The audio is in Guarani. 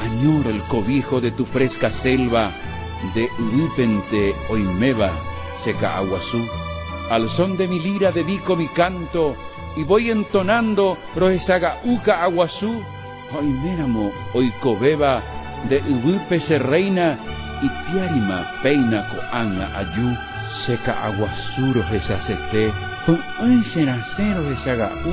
Añoro el cobijo de tu fresca selva Nde yvýpente oiméva che ka'aguasu Al son de mi lira dedico mi canto Y voy entonando rohechaga'u ka'aguasu Oiméramo oikovéva nde yvýpe che reina Ipiárima péina ko'ág̃a aju. Che ka'aguasu rohechasete Py'ỹi cherasẽ rohechaga'u.